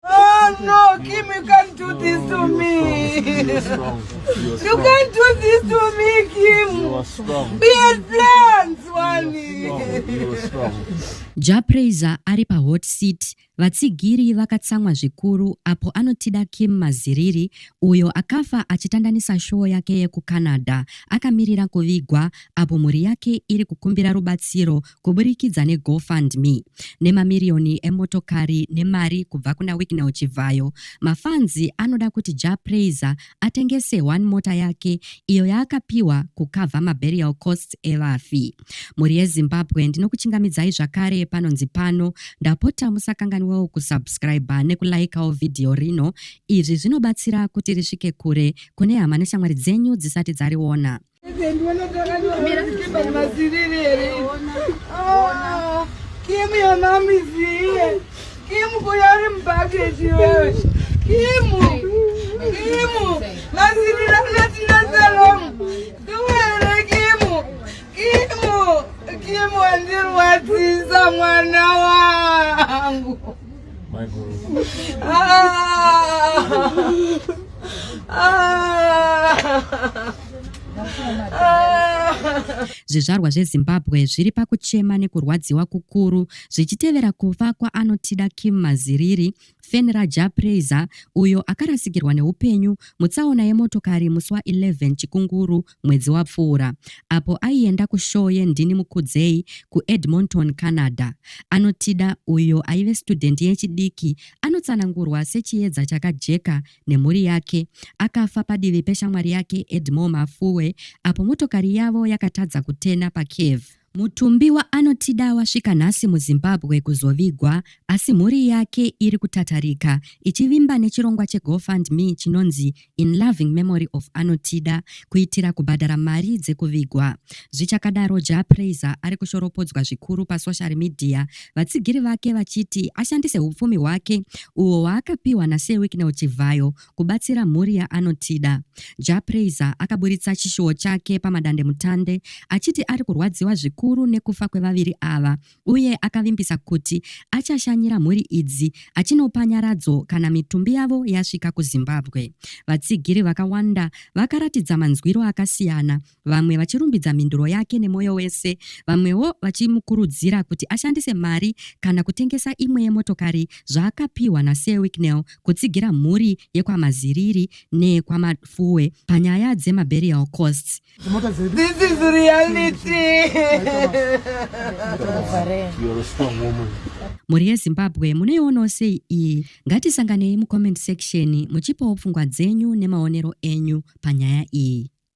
Oh no, Kim, you can't do this to me. You can't do this to me, Kim. You are strong. Be a plant, Wani. Japraiser ari pa hot seat vatsigiri vakatsamwa zvikuru apo anotida Kim Maziriri uyo akafa achitandanisa showo yake yekuCanada akamirira kuvigwa apo mhuri yake iri kukumbira rubatsiro kuburikidza neGoFundMe nemamiriyoni emotokari nemari kubva kuna Wicknell Chivhayo, mafanzi anoda kuti Jah Prayzah atengese one mota yake iyo yaakapiwa kukavha maburial costs evafi. Mhuri yeZimbabwe ndinokuchingamidzai zvakare panonzi pano, ndapota musakanganwewo kusubscriber nekulaikawo vhidhiyo rino, izvi zvinobatsira kuti risvike kure kune hama neshamwari dzenyu dzisati dzariona. Kim your mom is here. Kim kuyari mubhakeji wewe. Kim. Kim. Masirira natina salom. Tuwere Kim. Kim. Kim wandirwadzisa mwana wangu. Zvizvarwa zveZimbabwe zviri pakuchema nekurwadziwa kukuru zvichitevera kufa kwaanotida Kim Maziriri, Fen Raja Praiser, uyo akarasikirwa neupenyu mutsaona yemotokari musi wa 11 Chikunguru mwedzi wapfuura apo aienda kushoo yendini mukudzei kuedmonton canada anotida uyo aive studhendi yechidiki anotsanangurwa sechiedza chakajeka nemhuri yake akafa padivi peshamwari yake edmore mafuwe apo motokari yavo yakatadza kutena pacave Mutumbiwa anotida wasvika nhasi muZimbabwe kuzovigwa asi mhuri yake iri kutatarika ichivimba nechirongwa cheGoFundMe chinonzi In Loving Memory of Anotida kuitira kubhadhara mari dzekuvigwa. Zvichakadaro, Jah Prayzah ari kushoropodzwa zvikuru pasoshari midhiya, vatsigiri vake vachiti ashandise hupfumi hwake uhwo hwaakapiwa naSir Wicknell Chivhayo kubatsira mhuri yaanotida. Jah Prayzah akaburitsa chishuwo chake pamadandemutande achiti ari kurwadziwa zvikuru nekufa kwevaviri ava uye akavimbisa kuti achashanyira mhuri idzi achinopa nyaradzo kana mitumbi yavo yasvika kuZimbabwe. Vatsigiri vakawanda vakaratidza manzwiro akasiyana vamwe vachirumbidza mhinduro yake nemwoyo wese, vamwewo vachimukurudzira kuti ashandise mari kana kutengesa imwe yemotokari zvaakapiwa naSir Wicknell kutsigira mhuri yekwaMaziriri neyekwaMafuwe panyaya dzemaburial costs. This is reality. You're a strong woman. Mhuri yeZimbabwe munoionawo sei iyi? Ngatisanganei mucomment section muchipawo pfungwa dzenyu nemaonero enyu panyaya iyi.